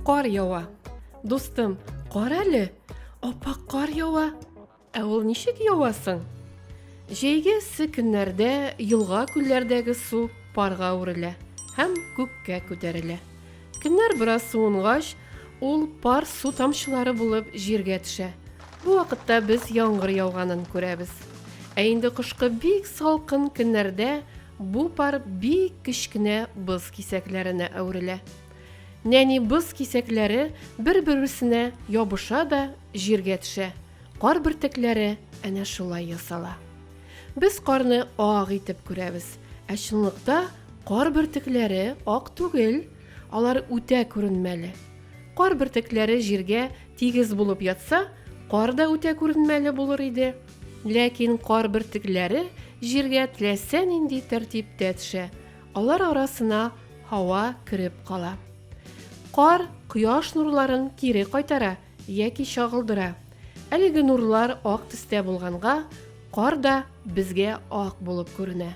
Кар ява. Дустым, кар әле. Апа кар ява. Ә ул ничек явасын? Җәйге эссе көннәрдә елга күлләрдәге су парга үрелә һәм күккә күтәрелә. Көннәр бераз суынгач, ул пар су тамчылары булып җиргә төшә. Бу вакытта без яңгыр яуганын күрәбез. Ә инде кышкы бик салкын көннәрдә бу пар бик кечкенә боз кисәкләренә әверелә. Нәни боз кисәкләре бер-берсенә ябыша да җиргә төшә. Кар бөртекләре әнә шулай ясала. Без карны ак итеп күрәбез, ә чынлыкта кар бөртекләре ак түгел, алар үтә күренмәле. Кар бөртекләре җиргә тигез булып ятса, кар да үтә күренмәле булыр иде. Ләкин кар бөртекләре җиргә теләсә нинди тәртиптә төшә, алар арасына һава кереп кала. Кар кояш нурларын кире кайтара, Яки чагылдыра. Әлеге нурлар ак төстә булганга, кар да безгә ак булып күренә.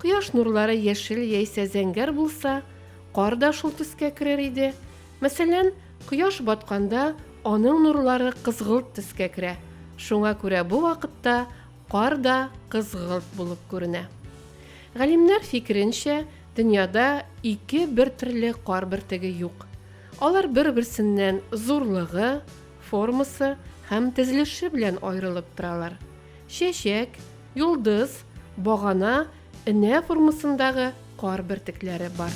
Кояш нурлары яшел яисә зәңгәр булса, кар да шул төскә керер иде. Мәсәлән, кояш батканда аның нурлары кызгылт төскә керә. Шуңа күрә бу вакытта кар да кызгылт булып күренә. Галимнәр фикеренчә, дөньяда ике бертөрле кар бөртеге юк. Алар бер-берсеннән зурлыгы, формасы һәм тезелеше белән аерылып торалар. Чәчәк, йолдыз, багана, энә формасындагы кар бөртекләре бар.